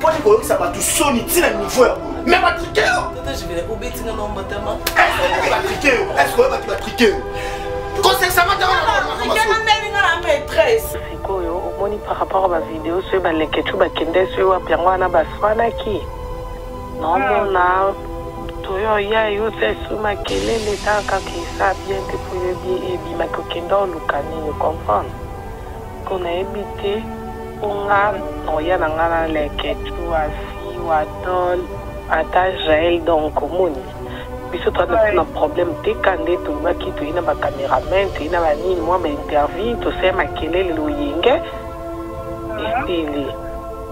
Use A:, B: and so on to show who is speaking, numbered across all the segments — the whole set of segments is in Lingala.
A: poni koyokisa bato soni ntina niveau ya boye me batrike yo batrike yo eske oyo bato batrike yo sikoyo omoni
B: par rapport ya bavideo soki baleketu bakende soki wapi yango wana baswanaki nomona toyo ya yo sesu makelele ta kaka esa bien te po yo ebimaki okenda oluka nini comprendre Po nayebi te po nga oya na nga na leketchou asi watol ata jael donc omoni biso toza na biso na problème te kande tolobaki toye na ba cameraman toye na ba nini mwa ba intervie tosali makelele loyenge esili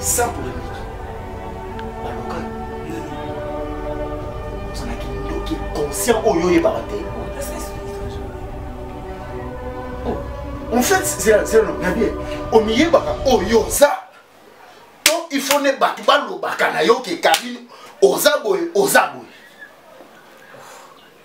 A: sans polémique baloka yo ozalaki ndoki conscient oyo oyebaka te oh, en fait zela zela na bien omiyebaka oyo oh, oza to il faut ne bato balobaka na yo ke kabino oza boye oza boye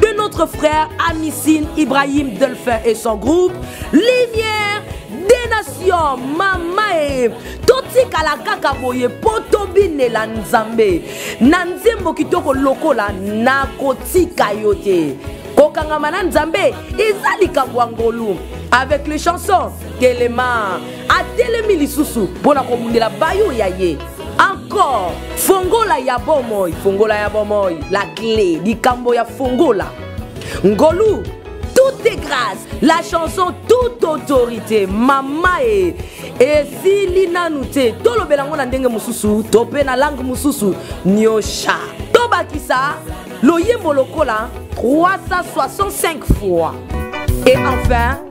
C: de notre frère Amisin Ibrahim Delphin et son groupe Lumière des Nations mamae totikala kaka boye mpo tobinela nzambe na nzembo kitoko lokola nakotika yo te kokangama na nzambe eza likambo ya ngolu avec les chansons telema atelemi lisusu mpo na kobundela bayo ya ye encore fongola ya bomoi fongola ya bomoi la clé likambo ya fongola ngolu tout est grâce la chanson toute autorité mama e esili nanu te tolobela yango na ndenge mosusu to mpe na langue mosusu nyosha tobakisa loyembo lokola 365 fois et enfin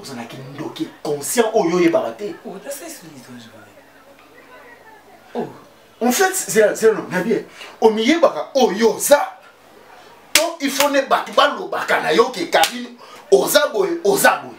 A: ozalaki ndoki conscient oyo oyebaka te
D: oh,
A: oh. en fait zelano na bien omiyebaka oyo oh, oza to il faut ne bato balobaka na yo ke karine oza boye oza boye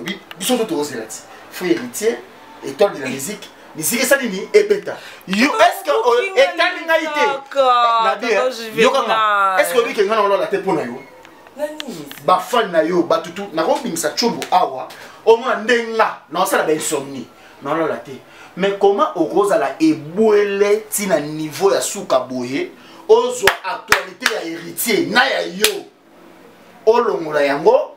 A: obi biso to tozela ti fo héritier étoile de la musique misiki esali nini ebeta yo estce etali ngai te nabi yokanga estce oyebi ke ngai na olala te mpo na yo bafani na yo bato tu nakobimisa tshombo awa omona nde nga naosala bainsomnie naolala te mais comment okozala ebwele ntina niveau ya suka boye ozwa actualité ya héritier na ya yo olongola yango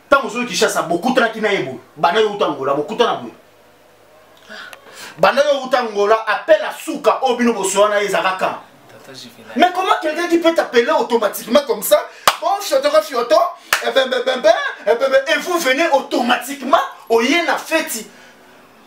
A: ntango ozoyi kishasa bokutanaki na ye boye banda yo uta ngola bokutana boye banda yo uta ngola appel à suka oyo bino bosoya na ye ezaka kan Mais comment quelqu'un qui peut t'appeler automatiquement comme ça Bon, fioto, fioto, et, ben, ben, ben, ben, et, ben, ben, et vous venez automatiquement au Yéna Feti.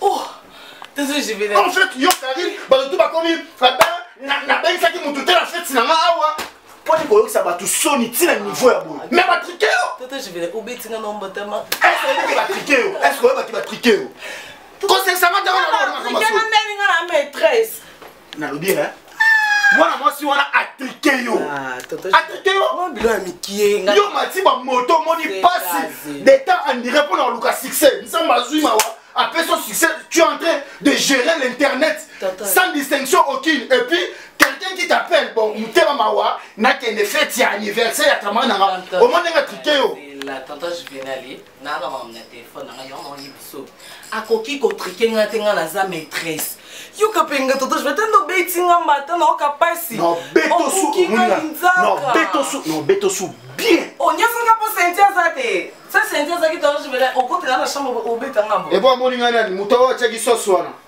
A: oh désolé je vais en fait yo Karine bato tout bakomi nabekisaki motu te na feti na nga awa mpo ni koyokisa bato soni ntina niveau ya boye me batrike yo batrike yo eske oyebaki batrike yo kosesanga ntango na makambo nalobi eh? mwana mwasi wana atrike yo ah, atrike yoyo mati bamoto omoni mpasi detemps andire mpo na koluka succès nzambe azwi mawa apesi yo succès tu es en train de gérer l'internet sans distinction aucune et puis quelqu'un qui t'appelle bon motema mawa nakende fete ya anniversaire ya kama na nga omoni ndenge atrike yo nayaka makambo na telefone na ngai yango naoyi biso akoki kotrike ngai te ngai naza maîtresse yoka mpe nga toto je vatanda obeti nga mbata naoka mpasi okoki nga linzakaobetosu bien onyosanga mpo senti aza te sa senti azaki toaobetanga ngambo ebo amoni ngai nani moto oyo atyaki sosi wana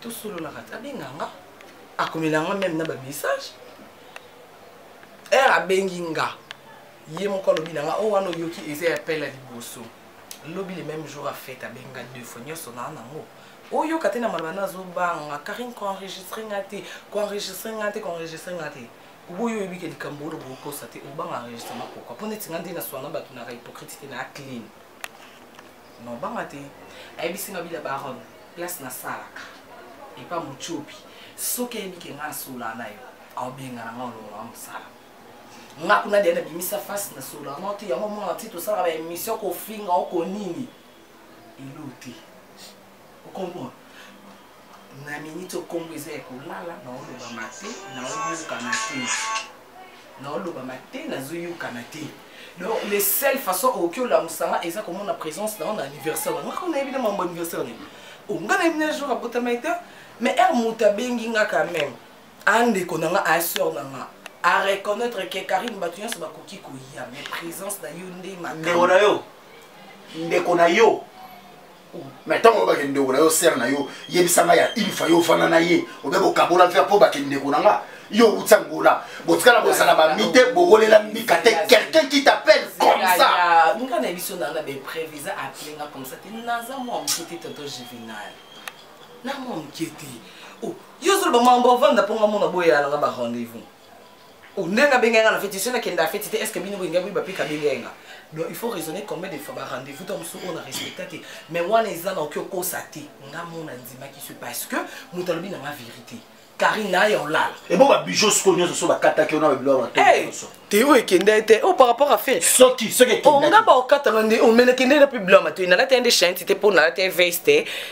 B: tosololaka te abenga nga akomela nga meme na bamessage ere abengi nga ye moko alobi na nga o oh, wana oyoki eza ya pele ya liboso lobi le même jour afete abenga deux fois nyonso naa nango oyoka te na maloba na azobanga karine koenregistre nga te koenregistre nga te koenregistre nga te oboyi oyebi ke likambo oyo bokosa te obanga enregistrement pourkoi mpo neti nga nde naswana bato naka hypocrite te naa clean non banga te ayebisi nga bila baron place nasalaka epa mocobi soki ayebi ke nga asolaa na yo aobengana nga olongola mosala nga kuna deya nabimisa face na solo yango te yango omona ti tosalaka ba émission kofinga oko nini elo te okomprendre na miniti okombo eza ya kolala naolobama te naoyokana te naolobama te nazoyokana te donc le seul façon okoki olamusa nga eza komona présence na yo na anniversaire na ngaka nayebi na mambo anniversaire nini onga nayebi na jour abotamaki te mais ere moto abengi nga quand même andeko na nga aseur na nga a reconnaître ke karine bato nyonso bakoki koya mais présence na yo nde ndeko na yo
A: ndeko na yo mais ntango oyo bakende ndeko na yo sere na yo yebisa ngai ya une fois yo ofanda na ye obe kokabola mpe mpo bakende ndeko na nga yo outi angola botikala bozala bami te bowolela mbika te quelqu'un qui t'appelle comme ça nga na biso nanga
B: beprévu eza appele nga comme ça te naza mwa moke te toto juvenal na mwa moke te yo ozoloba mambo avanda mpo nga mona boyala nga barendez-vous Oh, ndenge abengaki nga na feti soki nakenda feti te estce bino boyinga boyeba mpe kabengaki nga donc il faut raisonner combien de fois barendez-vous to mosusu oyo na respecta te mais wana eza naoki okosa te nga mona ndimaki so parce que moto alobi nanga vérité karine na ye olala ebo babijo sikoyo nyonso
A: so bakataki ona babilo ya bato te oyo ekenda
B: ye te o oh, par rapport a fe soki soki onga
A: oh, baokatanga
B: nde omena oh, kende na mpe bilo ya matoi nalati ya nde chanti te mpo nalati ya veste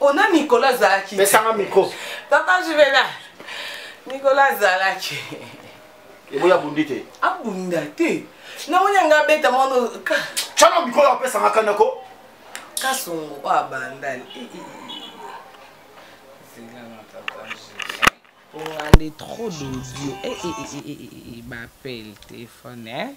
B: ona mikolo azalaki pesanga mikro
A: papa juvena
B: mikolo azalaki
A: eboya abundi te abunda te
B: namoni yanga abeta mwana cana mikolo
A: apesanga kanako kasongo
B: oyo abandani ongande trop d'audio bapele telefone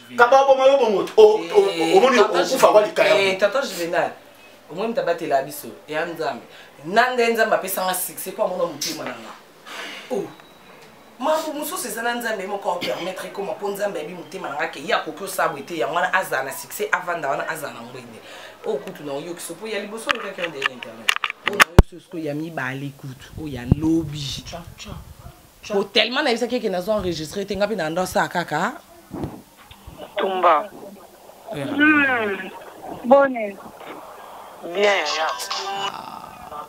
A: kaba boma yo bongo eh, omoni okufa kwa likaya eh, tata juvenal
B: omoni moto abatela biso ya nzambe na nde nzambe apesanga succès mpo amona motema na nga oh. makambo mosusu eza na nzambe moko apermettre ekoma mpo nzambe ayebi motema na nga ke ye akoki osala boye te yango wana azala na succès avanda wana azala na ngwende oyo oh, kutu na oyokisa mpo ya liboso olokaki yondele internet oyo oh, na oyokisa sikoyo ya mibale kutu oyo oh, ya lobi po tellement nayebisaki eke nazo enregistre te nga mpe nanda osala kaka
E: tumba eh. hmm. bone bien yaya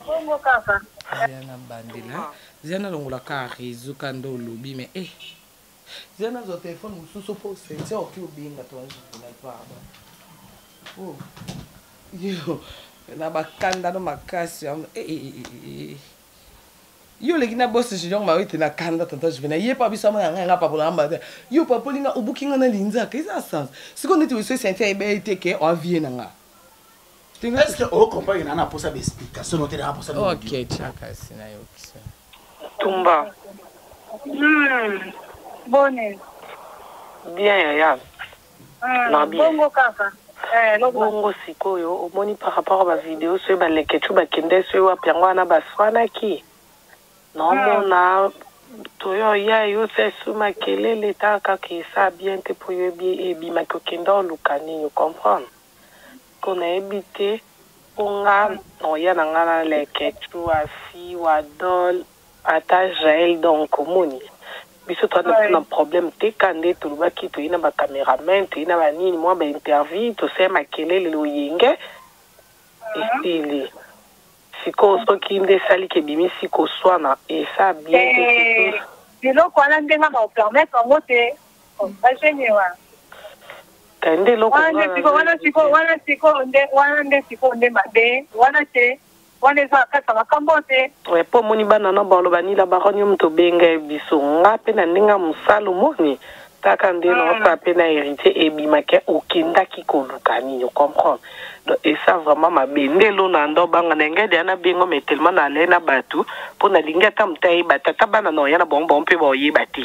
E: bongo kaka ya na bandela
B: zia nalongola kaka réseau ka nde olobi mais e eh. zia nazwa telefone mosusu mpo sentia oki obenga toazokuna pardon oh. yo na bakandano makasi eh, yo oleki na boss junior mawe te na kanda tata juvenal ye pa biso amona ngai nga papola nga mbala yo papoli nga obuki nga na linzaka eza sans sikoyo neti weso esentia ayeba ye te ke oavie na nga est-ce
A: que o comprendre na na posa ba explication note na posa ba okay chaka
B: sina yo kisa tumba
E: hmm bone bien yaya Hum, bongo kaka eh, bongo sikoyo omoni par rapport ba video soki balekechu bakende soki wapi yango wana baswanaki nomona hmm.
B: toyo ya yo sesu makelele ta kaka esa bien te mpo yo ebimaki okenda oluka nini comprendre mpo nayebi te mpo nga noya na nga na lekechu asi wadol Ata jael donc omoni biso toza na biso na problème te ka nde tolobaki toye na ba cameraman toye na ba nini mwa ba intervie tosaya makelele loyenge esili sikoyo soki nde esali ke bimisi koswana esa bien te surtout biloko wana
E: nde nga nao permettre yango te bagenie wana
B: kende eloko wana sikoyo wana sikoyo wana sikoyo nde wana nde sikoyo nde mabe
E: wana te Wana eza na kati ya makambo oyo te. Eh, po omoni bana na bango
B: baloba nini la baronne yo moto obenga biso nga pe na ndenge ya mosala omoni kaka nde na osala mpe na héritier ebimaki okendaki koluka nini ocomprendre donc esa vraiment mabe nde elona ndo obanga na engedi ya nabengo mai tellement na alai na bato mpo nalingi ata moto ayeba tata bana na oya na bango bango mpe baoyeba te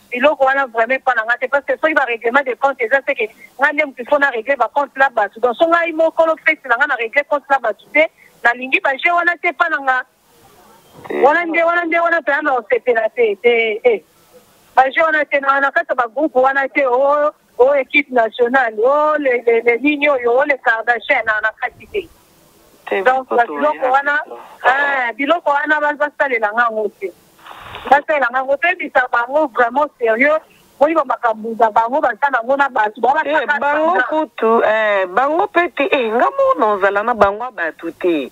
E: biloko wana vraiment epa na nga te parce que soki ba règlement de compte eza seke nga nde motu faut na règle ba compte na bato donc so ngai mokolo fete na nga na règle compte na bato te nalingi ba jeu wana te epa na nga wana nde wana nde wana mpenza na osepela te te ba jeu wana te na kati ya ba groupe wana te o oh, Oh equipe nationale, oh le le le nini oyo, oh le Kardashian na na kati te. Donc ba biloko wana, ah biloko wana ba ba salela nga ngo te. Ba salela nga ngo te bisa bango vraiment sérieux. Boni ba makambo za bango ba sana ngo na batu ba ba Eh, bango
B: kutu eh, bango mpe te eh, nga moko nazala na bango ya bato te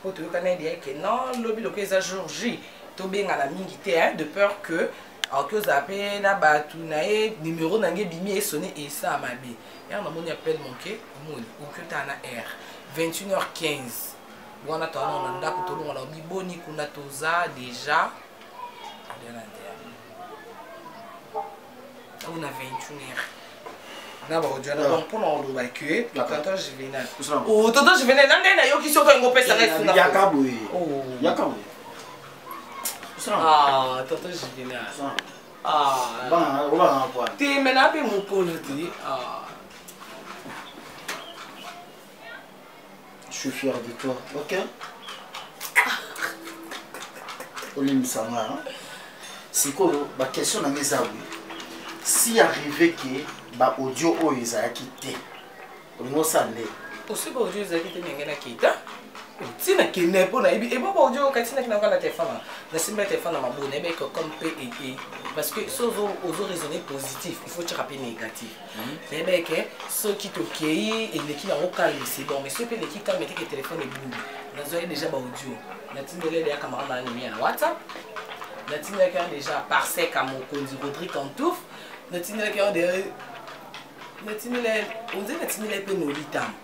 F: mpo toyokana ye deya ke non lobi lokola eza jour j tobengana mingi te hein, de peur que aoki ozala mpe na bato na ye numero na nge ebimi esone esaa mabe ere namoni appel manke omoni oki otala na aire 21 h 15 wana toanao na ndako tolongola obi boni kuna toza deja oyo na 21 heure na baodio na donc mpona koloba ke tonton juvenal o tonton juvenal na ndenge nayoki soki yango opesa ngai fungayaka boye
A: yaka boye
F: tonton juvenal
A: te me na mpe
F: mokolo te
A: Je suis fier de toi, ok olimbisa nga hein. sikoyo bakestion na nga eza boye si arrive ke baaudio oyo ezalaki te olingi osala nde osi baaudio ezalaki
F: te ndenge na kita ntina kende mpo nayebi ebo baaudio oyo kati nakinaka na telefone nasimba telefone na mabona ebeke comme mpe ete parce que so ozo raisonne positif il faut tyaka mpe négatif nayebi ke soki tokei eleki nango calme c'est bon mais soki eleki calme teke telefone ebungi nazwaki déjà baaudio natindeli deya camarade na nini na whatsapp natindaki yango déjà parseka mokonzi rodri cantouf natindaki yango deya natindela onze natindela mpe nolitamo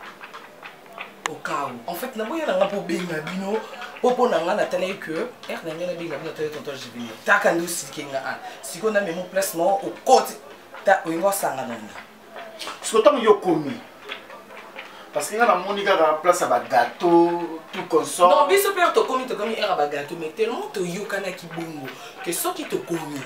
F: okau en fait naboya nanga mpo obenga bino po mpo na ngai natalaki que r na ngai nabenga bino atali tonton jibini taka nde osilike nga a sikoyo namemo place moko okoti ta olinga osanga na nga siko ntango
A: yo okomi parce que nga namoni kaka place ya bagateau tout consort non biso mpe tokomi
F: tokomi ere ya bagateau mais tellement toyokanaki bongo ke soki tokomi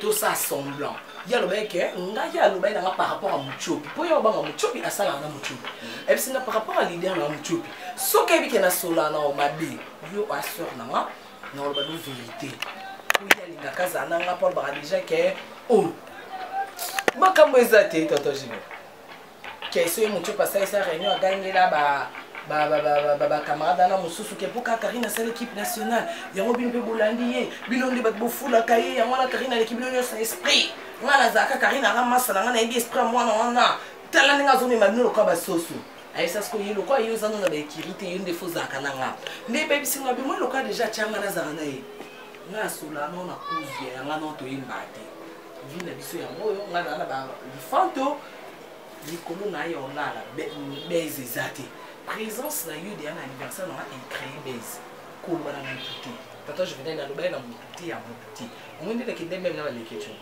F: tosala semblant ye alobaki ke ngai ye alobaki nanga par rapport ya mutiopi mpo ye obanga mutiopi asalaka na mutiopi ayebisi nga par rapport ya lider nanga mutiopi soki ayebi ke nasolana o mabe yo aseur nanga nakoloba no verité oyo alingaka azala na nga mpo alobaka deja ke o oh, makambo eza te toto jino keso ye motu pasalisa réunion agangela ba bacamarade wana mosusu ke mpo kaka karine asala équipe nationale yango bino mpe bolandi ye bino nde bato bofulaka ye yango wana karine aleki bino nyonso na esprit ngai nazalaka karine anga masa na ngai nayebi esprit ya mwana wana tala ndenge azomema bino lokola basoso ayebisa siko ye lokola ye ozanga na baekiri te yo nde fo ozalaka na nga nde ebebisi nga bimoi lokola deja atyanga nazala na ye nga asola no na kuzu ya yanga no toyemba te vi na biso yango oyo nga naa na balifanto likolo na ye olala base eza te présence na yo deya na anniversaire nanga ecree base koloba na motu te tata juvenel alobaki na motu te ya motu te omoi nde nakende meme na baleketio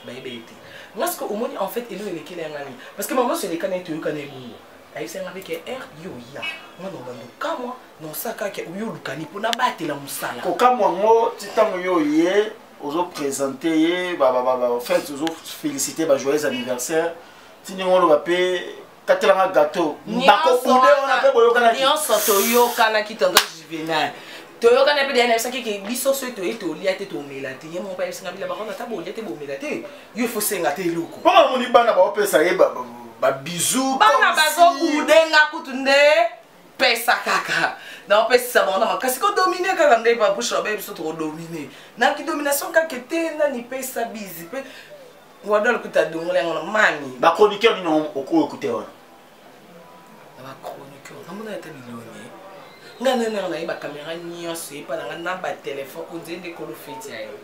F: bayebi ye te nga sikoyo omoni en fait eloko elekeli ya ngani parce que mama nyonso elekani ete oyokana ebongo ayebisa nga mpe ke r yo oya mwana obanda okamwa na osaka ke oyo olukani mpo nabatela mosala kokamwa yango
A: ti ntango yo oye ozopresente ye en fait ozofélicite bajoyeux anniversaire ti ndenge oloba mpe katela nga gateau bako kude wana pe boyokana nyonso toyokana
F: ki tonton juvenal toyokana mpe deya nayebisaki ke biso soki toye tolia te tomela te ye moko ayebisanga bila bakona ata bolia te bomela te yo efosenga te eloko mpo namoni bana baopesa
A: ye babizu bana bazokudenga
F: kutu nde pesa kaka naopesisa bango na makasi kodomine kaka nde babusha baye biso tokodomine na kidomination kaka te nani pesa bizi mpe wadol kuta dongola yango na mami bachroniqueur nini
A: okoyo kuta wana
F: na bachroniqueur namona ata bilongi ngai nani yango naye bakamera nyonso epa na ngai na batelefone onzeli nde kolo feti ya yo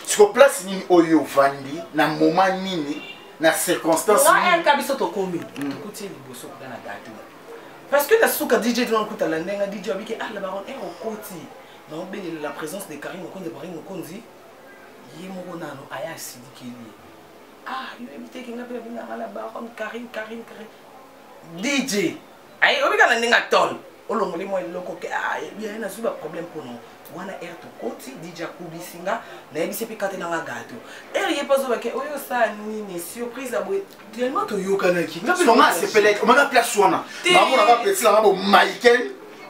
F: siko place
A: nini oyo ovandi na moma nini na circonstance nini biso tokomi
F: hmm. tokuti liboso kuta na gato parce que na suka dj tona kuta la ndenga dj abiki ala ah, baron e eh, okoti naobelela la présence de karine mokonzi karine mokonzi ye moko nano aya asilikeli ye ah yo yebi te kenga mpe abengaka na baron karine karine karine dj aye obika na ndenge atone olongoli mwa eloko ke ah, ye nazwi baproblème mpo nao wana ere tokoti dj akubisi nga nayebisi mpe kate nanga gato ere ye mpe azobake oyo osala nini surprise aboye tellement toyokanaki nga mpe nanga asepelaki omaka
A: place wana namonaka peti nanga bomaiken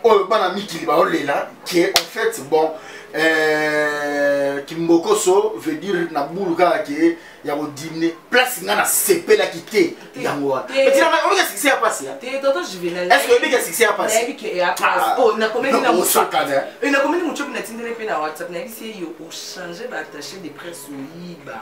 A: oyo bana mikili baolela ke en fait bon euh, kimbokoso veut dire na bulu kaka ke ya kodimine place nga nasepelaki te yango wana peti nanga oyebika succès ya pasi est-ce que
F: oyebika succès
A: ya
F: pasiosakanakomeli
A: mocopi
F: natindele mpe na whatsapp nayebisi ye yo ochange baattache de presse oyiba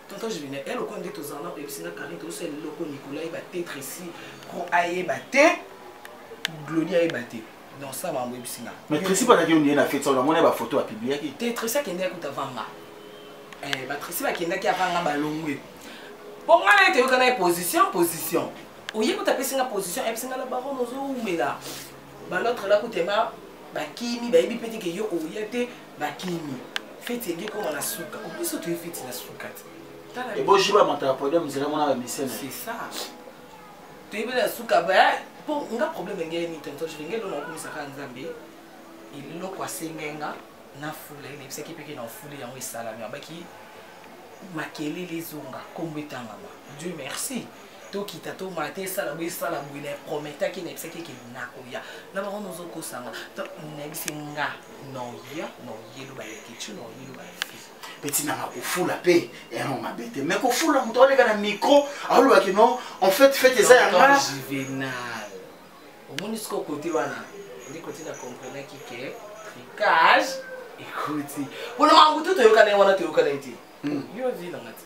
F: tonton juvine ya lokola nde tozala nao oyebisi nga karine tozosala eloko nicolas ayeba te tresi pro ayeba te glodi ayeba te donc ça bango oyebisi nga mais tresi bazaki ondie
A: na fete saona mona bafoto bapibliaki te tresi akendaki kuta
F: vanga eh, batresi bakendaki avanga balongwe mpo ngai na ye toyoka na ye position position oye kuta apesi nga position ayebisi nga la baron ozowumela balotre la kutema bakimi bayebi mpe teke yo oya te bakimi feti ege koma na suka obiso toye feti na suka te ebojiba
A: moto ya podium nzela mona bamisene c'est ça
F: toyebi na suka baya mpo nga problème engeye ni tonton jule ngeli ona okumisaka nzambe eloko asengai nga na fula ye nayebisaki mpeke na ofuli yango esalami abaki makelele ezonga nkombo etangama dieu merci tokita tomona te esala boye esala boye na prometaki nayebisaki eke nakoya na bango nozokosanga nayebisi nga noya noyeluba ya kicu noyeluba ya fi betina nga
A: kofula mpe yango mabe te mai kofula moto aleka na micro aolobaki no en fait fete eza ya nga juvenal
F: omoni siko kote wana ndi kote na comprenaki ke tricage ekuti mpona makambo to toyokana ye wana toyokana ye te hmm. yo vi nanga te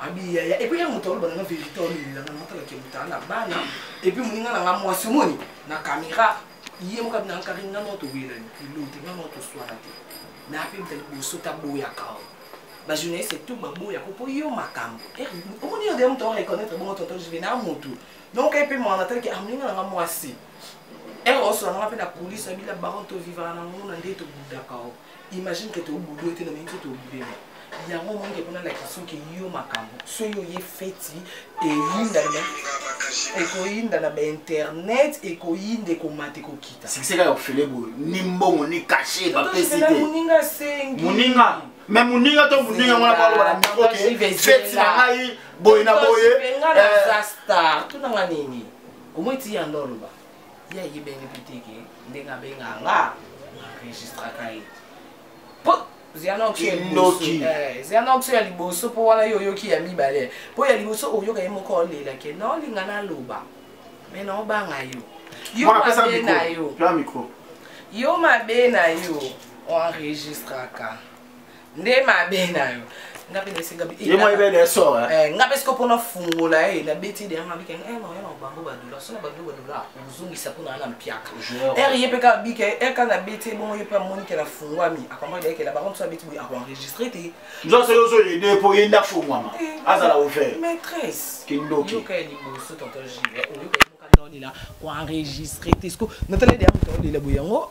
F: abi yaya epuis ya moto aloba nanga verité olelelanga na matala kemutala na bana epuis moninga nanga mwasi omoni na kamera ye moko abi nanga kari nga nao towelani kilo te nga nao toswana te me ape mta liboso taboyaka o bajournaliste tout baboya ko mpo yo makambo eh, omoni yo deya moto areconnaitre bongo tonton juve na motu donc epe mwana atalaki amoninga ah, nanga mwasi ere eh, osola nanga mpe na polise abila baron tovivaka na nguna nde tobudaka o imagine que tobulu ete nobini te tobulema yango omonike mpona lakisoki yo makambo soki oye feti eyindana ekoyinda na bainternet ekoyinda ekomata ekokita sikiseka ya ofele boye
A: ni mbongo ni kashe bapesi te moninga asengi
F: moninga me
A: moninga to moninga wana baloba na mikro ke feti na ngai boye na boye eh.
F: tunanga nini omoi ti yando oloba ye ayebeli mpe te ke ndenge abenga nga enregistraka ye po zianoxo ya liboso mpo wana yo oyoki ya mibale mpo ya liboso oyoka ye moko olela ke na olinga naloba me na obanga yo yo mabe na yo yo mabe na yo oenregistraka nde mabe na yo nga mpe naesengaye moi ebele esor
A: nga mpe sikoyo mpona
F: fungola ye nabeti de yanga bike eh, noyana bango badola sona bango badola ozongisa mpona wana mpiaka ere ye mpe kaka bike ere kaka nabeti ebongo ye mpe amonike na fungwami akomaki ayekela bango mosusu abeti boye akoenregistre te nzonso yo ozoyede
A: mpo ye nde afungwama eh, azala ouvert maîtresse kindoki
F: yoka ya
A: liboso
F: tonton jive oyoka yoka naolela koenregistre te siko natala de ya moto aolela boye yango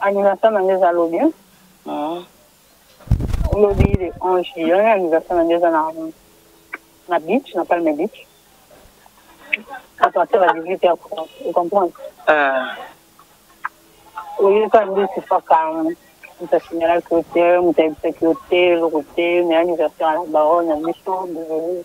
E: Anniversaire na ngai eza lobi. Ah. Lobi le 11 juillet, anniversaire na ngai eza na na beach, na Palme Beach. À partir ya 18 heures, vous comprenez? Ah. Oyeka nde sifaka moto asinyalaki yo te, moto ayebisaki yo te, eloko te, mais anniversaire ya la baronne ya biso, désolé.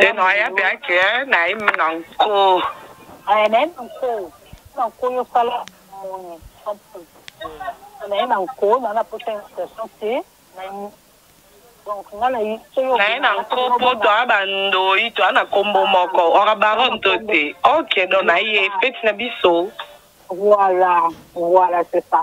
B: Teno aya pe ake na ye na nko. Aya na ye na nko.
E: Na nko yo sala moni. Na ye na nko na na posa invitation te. Na ye donc nga na ye so yo. Na ye na nko
B: po to a ba ndoyi to a na kombo moko or a baronne to te. Ok donc na ye feti na biso. Voilà
E: voilà c'est ça.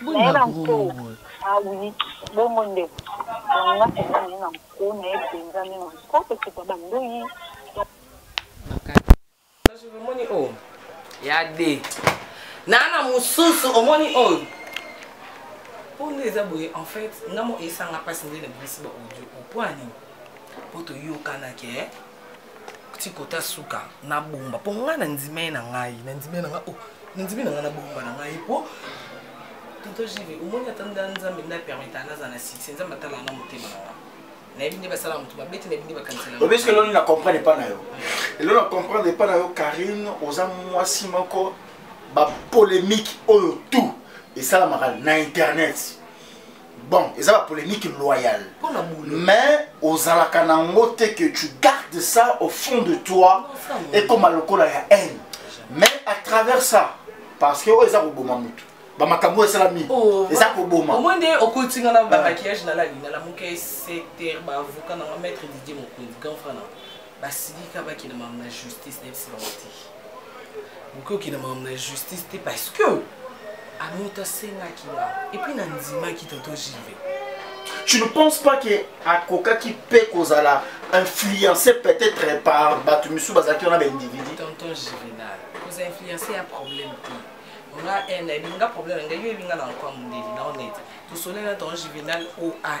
B: naye na nko
E: awi bongo nde nga eza naye na nko naye mpenza nde na nko
F: kosopa bandoyi omoni oyo oh. ya de naa na mosusu omoni oyo oh. mpo nde eza boye en fait nga mo esanga mpasi nde na bimisi ba audio mpo ya nini mpo toyokanaki eh? tikota suka nabomba mpo ngai nandima ye na ngai nandima ye na ngai oh, nandimi na ngai nabomba na ngai mpo tonto jive omoni ata nda nzambe nda permeta nazala na succès nzambe atalaka na motema na ngai nayebi nde basalaka moto mabe te nayebi nde bakanisela obi soki eloni na comprendre
A: epai na yo elo na comprendre epai na yo karine oza mwasi moko bapolémique oyo tout esalamaka na internet bon eza ba polémique loyale mais ozalaka na yango te que tu gardes ça au fond de toi ekoma lokola ya haine mais à travers ça parce que oyo eza koboma motu bamakambo oyo esalami oh, eza koboma omoi nde okoti nga
F: na bamaquillage nalali nalamuka eseter baavoka nanga maître didie mokonzi grand frana basilika bakende makambo na justice nayebisi bango te bokoki okende makambo na justice te parce que amoto asengaki nga epuis nandimaki toto jive tu ne penses pas
A: que akokaki mpe kozala influencé peut-être par bato misusu bazalaki wana baindividu tonton juvenal
F: koza influencé ya problème te nga ene eh, ebinga problème na ngai yo ebinga na nkwa mondeli na onete tosoleli na tonton juvenal oai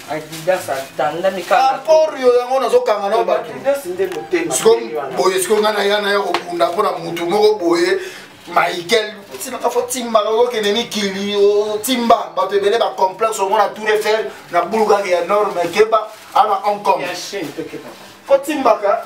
A: adidas
F: atandami kaporio yango
A: nazokanga nao batuadidas
F: nde motema boye siko
A: ngai naya naya kobunda mpo na motu moko boye michael osilaka fo timbaka okokende mikili otimba bato ebele bacomplexe omona tour eiffel na bulu kaka ya nord me keba ana hong kong fo
F: timbaka